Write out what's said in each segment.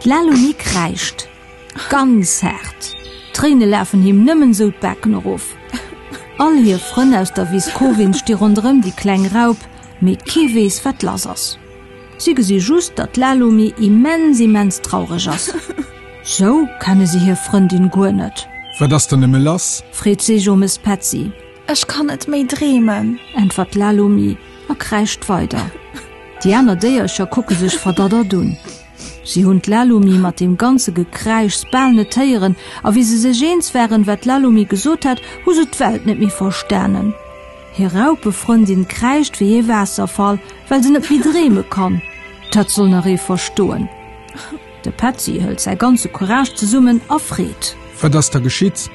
D'Lalomie kreischt ganz hart. Tréine lafen him nëmmen sou d'Backen erof. All hir Frënn aus der Wiss Cowin sti ronderëm déi kleng Raup, mee kee weess, wat lass ass. Si gesi just, datt d'Lalumi immens, immens traureg ass. Sou kenne si hir Frëndin guer net. Wat ass dann nëmme lass? Freet sech om es Petzi. Ech kann net méi dreemen. Äntwert d'Lalumi a kräischt weider. Déi aner Déiercher kucke sech verdaddert un. Si hunn d'Lalumi mat deem ganze Gekräischs bal net héieren, a wéi se sech eens waren, wat d'Lalumi gesot hat, hu se d'Welt net méi verstanen. Hir Raupefrëndin kräischt wéi ee Waasserfall, well se net méi dreeme kann. Dat soll nach ee verstoen! De Petzi hëlt säi ganze Courage zesummen a freet. Wat ass da geschitt?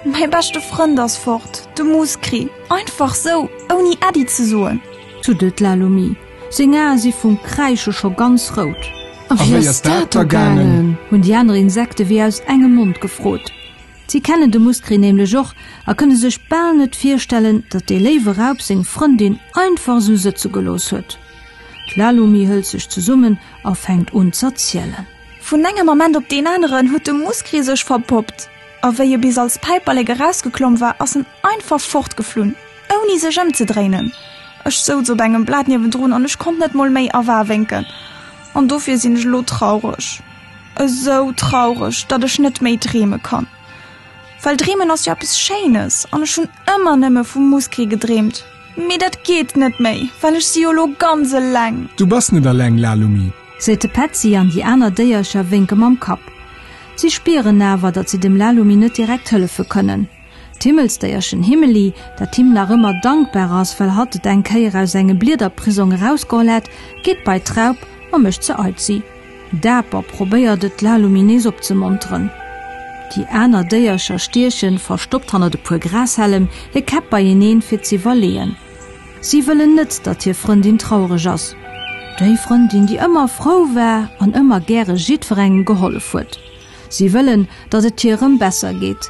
Mäi beschte Frënd ass fort, de Muskri, einfach sou, ouni Äddi ze soen! Tuddelt d'Lalumi. Seng Ae si vum Kräische scho ganz rout. A wéi ass dat da gaangen? hunn déi aner Insekte wéi aus engem Mond gefrot. Si kenne de Muscri nämlech och a kënne sech bal net virstellen, datt dee léiwe Raup seng Frëndin einfach esou sëtze gelooss huet. D'Lalumi hëlt sech zesummen a fänkt un z'erzielen. Vun engem Ament op deen aneren huet de Muscri sech verpoppt a wéi e bis als Päiperlek erausgeklomm war, ass en einfach fortgeflunn, ouni sech ëmzedréinen. Ech souz op engem Blat niewendrun an ech konnt net mol méi awawénken. An dofir sinn ech elo traureg. Esou traureg, datt ech net méi dreeme kann. Well dreemen ass jo eppes Schéines an ech hunn ëmmer nëmme vu Muskee gedreemt. Mee dat geet net méi, well ech si jo lo ganz eleng. Du bass net eleng, Lalumi. Seet de Petzi an déi aner Déiercher wénke mam Kapp. Si spieren awer, datt si dem Lalumi net direkt hëllefe kënnen. D'Himmelsdéierchen Himmeli, dat him nach ëmmer dankbar ass, well hatt et eng Kéier aus engem Bliederprisong erausgeholl hat, geet bei d'Raup a mécht se aizi. Daper probéiert et, d'Laluminees opzemonteren. Déi aner Déiercher stiechen, verstoppt hannert e puer Grashällem, hir Käpp beieneen, fir ze iwwerleeën. Si wëllen net, datt hir Frëndin traureg ass, déi Frëndin, déi ëmmer frou war an ëmmer gäre jiddwerengem gehollef huet. Si wëllen, datt et hir erëm besser geet.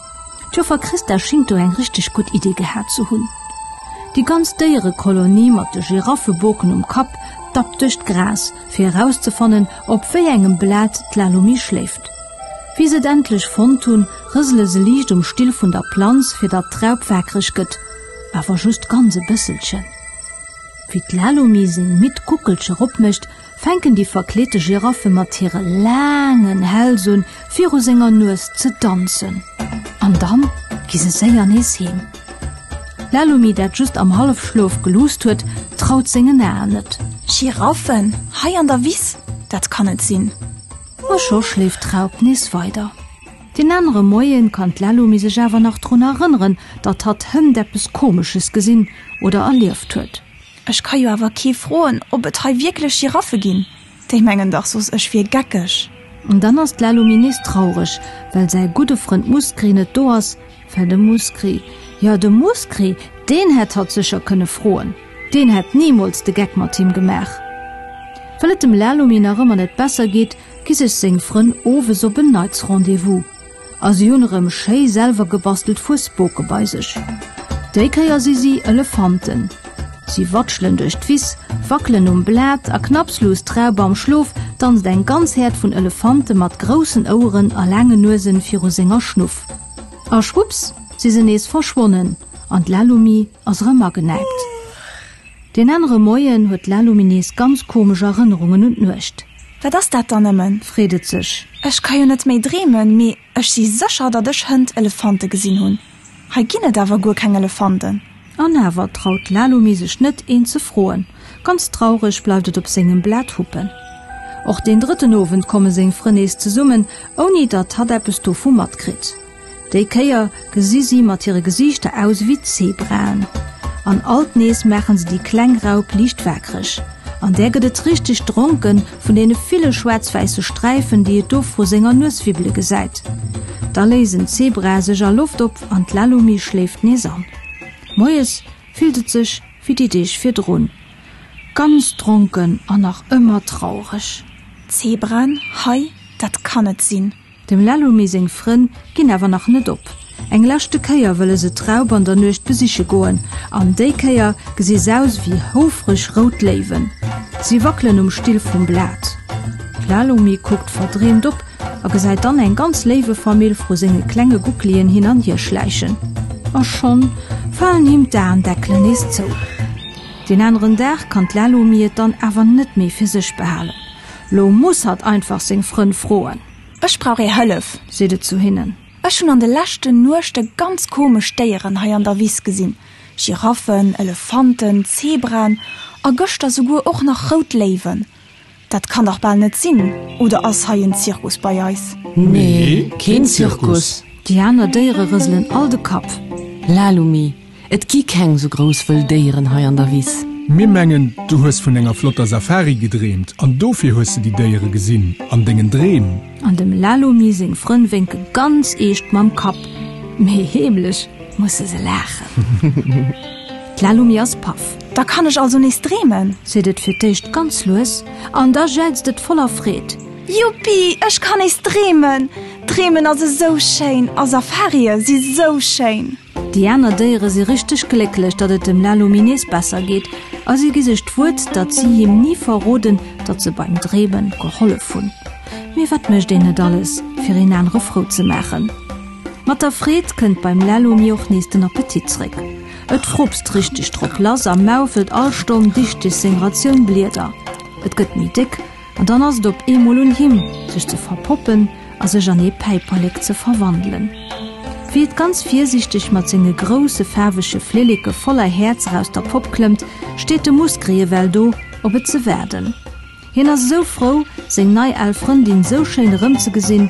D'Joffer Christa schingt do eng richteg gutt Idee gehat ze hunn. Déi ganz Déierekolonie mat de Giraffeboken um Kapp dappt duerch d'Gras, fir erauszefannen, op wéi engem Blat d'Lalomie schléift. Wéi se et endlech fonnt hunn, rësele se liicht um Still vun der Planz, fir datt d'Raup waakreg gëtt, awer just ganz e bësselchen. Wéi d'Lalomie seng midd Guckelcher opmécht, fänken déi verkleete Giraffe mat hire laangen Häls un, viru senger Nues ze danzen. An dann gi se séier nees heem. D'Lalumi, dat just am Hallefschlof geluusst huet, traut sengen Aen net. Giraffen hei an der Wiss? Dat kann net sinn! A scho schléift d'Raup nees weider. Deen anere Moie kann d'Lalumi sech awer nach drun erënneren, datt hatt hënt eppes Komesches gesinn oder erlieft huet. Ech ka jo awer kee froen, ob et hei wierklech Giraffe ginn, déi mengen dach soss, ech wier geckeg. An dann ass d'Lalomie nees traureg, well säi gudde Frënd Muskri net do ass, well de Muskri, jo, de Muskri, deen hätt hatt sécher kënne froen, deen hätt nimools de Geck mat him gemaach. Well et dem Lalomie nach ëmmer net besser geet, gi sech seng Frënn owes op en Neits Rendez-vous. A si hunn erëm schéi selwer gebastelt Fuesboke bei sech. Déi Kéier si si Elefanten. Si watschelen duerch d'Wiss, wackelen um Blat a knapslus d'Raup am Schlof danzt eng ganz Häerd vun Elefante mat groussen Oueren a laangen Nuesen viru senger Schnuff. A schwupps, si se nees verschwonnen an d'Lalumi ass erëm agenäipt. Deen anere Moien huet d'Lalumi nees ganz komesch Erënnerungen un d'Nuecht. Wat ass dat dann nëmmen? freet et sech. Ech ka jo net méi dreemen, mee ech si sécher, datt ech hënt Elefante gesinn hunn. Hei ginn et awer guer keng Elefanten. An awer traut d'Lalumi sech net, een ze froen. Ganz traureg bleift et op sengem Blat huppen. Och deen drëtten Owend komme seng Frënn nees zesummen, ouni datt hatt eppes dovu matkritt. Déi Kéier gesi si mat hire Gesiichter aus ewéi Zebraen. An alt nees maache se déi kleng Raup liicht waakreg. An där gëtt et richteg dronke vun deene ville schwaarz-wäisse Sträifen, déi et do vru senger Nues wibbele gesäit. Da léisen d'Zebrae sech a Loft op an d'Lalumi schléift nees an. Moies fillt et sech ewéi déi Deeg virdrun, ganz dronken an nach ëmmer traureg. Zebraen, Hei, dat kann net sinn! Dem Lelumi seng Frënn ginn awer nach net op. Eng leschte Kéier wëlle se d'Raup an der Nuecht besiche goen, an déi Kéier gesi s'aus wéi houfreg rout Léiwen. Si wackelen um Still vum Blat. D'Lelumi kuckt verdreemt op a gesäit dann eng ganz Léiwefamill vru senge klenge Gucklien hin an hier schläichen. A schonn falen him d'Aendeckelen nees zou. Deen aneren Dag kann d'Lelumi et dann awer net méi fir sech behalen. Lo muss hatt einfach seng Frënn froen. Ech brauch är Hëllef, seet et zu hinnen. Ech hunn an de leschten Nuechte ganz komesch Déieren hei an der Wiss gesinn, Giraffen, Elefanten, Zebraen a gëschter souguer och nach rout Léiwen. Dat kann dach bal net sinn, oder ass hei en Zirkus bei eis? Nee, keen Zirkus. Déi aner Déiere rëselen all de Kapp. Lalumi, Et gi keng sou grouss wëll Déieren hei an der Wiss. Mir mengen, du hues vun enger flotter Safari gedreemt an dofir hues de déi Déiere gesinn an dengen Dreem. An dem Lalomi seng Frënn wénke ganz eescht mam Kapp, mee heemlech musse se laachen. D'Lalomi ass paff. Da kann ech also nees dreemen? seet et fir d'éischt ganz lues an da jelzt et voller Freed. Juppi, ech kann nees dreemen! Dreemen ass esou schéin a Safarie si sou schéin. Déi aner Déiere si richteg glécklech, datt et dem Lalomie nees besser geet a si gi sech d'Wuert, datt si him ni verroden, datt se beim Dreeme gehollef hunn. Mee wat mécht een net alles, fir een anere frou ze maachen? Mat der Freed kënnt beim Lalomie och nees den Appetit zréck. Et frupst richteg drop lass a maufelt all Stonn dichteg seng Ratioun Blieder. Et gëtt méi déck. An dann ass et op eemol un him, sech ze verpoppen a sech an ee Päiperlek ze verwandelen. Wéi et ganz virsiichteg mat senge grousse faarwege Flilleke voller Häerzer aus der Popp klëmmt, steet de Muskerie ewell do, op et ze waarden. Hien ass esou frou, seng nei al Frëndin esou schéin erëmzegesinn.